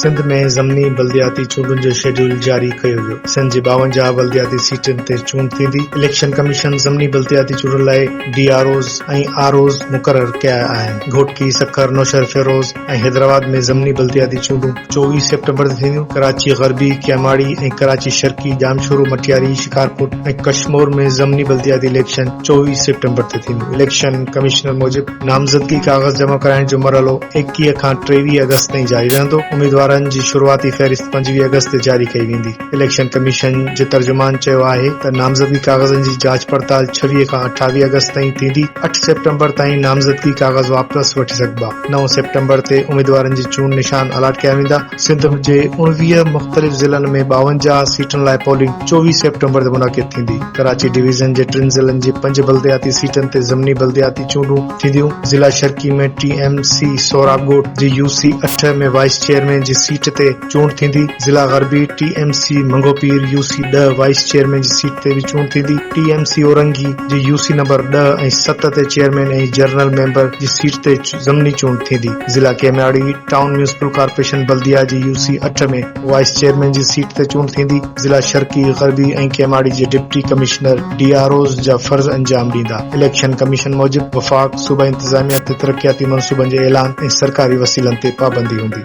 سنڌ ۾ ضمني بلدياتي چونڊن جو شيڊيول جاري ڪيو ويو، سنڌ جي ٻاونجاهه بلدياتي سيٽن تي چونڊ ٿيندي، اليڪشن ڪميشن ضمني بلدياتي چونڊن لاء D R Os ۽ R Os مقرر ڪيا آهن، گهوٽڪي، سکر، نوشهروفيروز، ۽ حيدرآباد ۾ ضمني بلدياتي چونڊون چوويهه سيپٽمبر تي ٿينديون، ڪراچي غربي، ڪيماڙي ۽ ڪراچي شرقي، ڄامشورو، مٽياري، شڪارپور ۽ ڪشمور ۾ ضمني بلدياتي اليڪشن چوويهه سيپٽمبر تي ٿينديون، اليڪشن ڪمشنر موجب نامزدگي ڪاغذ جمع ڪرائڻ جو مرحلو ايڪيهه کان ٽيويهه آگسٽ تائين جاري رهندو، اميدوارن جي شروعاتي فهرست پنجويهه آگسٽ تي جاري ڪئي ويندي. اليڪشن ڪميشن جي ترجمان چيو آهي ته نامزدگي ڪاغذن جي جاچ پڙتال ڇويهه کان اٺاويهه آگسٽ تائين ٿيندي، اٺ سيپٽمبر تائين نامزدگي ڪاغذ واپس وٺي سگهبا، نو سيپٽمبر تي اميدوارن جي چونڊ نشان الاٽ ڪيا ويندا. سنڌ جي اڻويهه مختلف ضلعن ۾ ٻاونجاهه سيٽن لاء پولنگ چوويهه سيپٽمبر تي منعقد ٿيندي، ڪراچي ڊويزن جي ٽن ضلعن جي پنج بلدياتي سيٽن تي ضمني بلدياتي چونڊون ٿينديون، ضلع شرقي ۾ ٽي ايم سي سهراب ڳوٺ جي يو سي اٺ ۾ وائيس چيئرمين جي سيٽ تي چونڊ ٿيندي، ضلع غربي T M C Manghopir U C ڏهه وائيس چيئرمين جي سيٽ تي به چونڊ ٿيندي، ٽي ايم سي اورنگي جي يو سي نمبر ڏهه ۽ ست تي چيئرمين ۽ جنرل ميمبر جي سيٽ تي ضمني چونڊ ٿيندي، ضلع Keamari town municipal corporation Baldia جي يو سي اٺ ۾ وائيس چيئرمين جي سيٽ تي چونڊ ٿيندي، ضلع شرقي، غربي ۽ ڪيماڙي جي deputy commissioner D R Os جا فرض انجام ڏيندا، اليڪشن ڪميشن موجب وفاق صوبائي انتظاميا تي ترقياتي منصوبن جي اعلان ۽ سرڪاري وسيلن تي پابندي هوندي.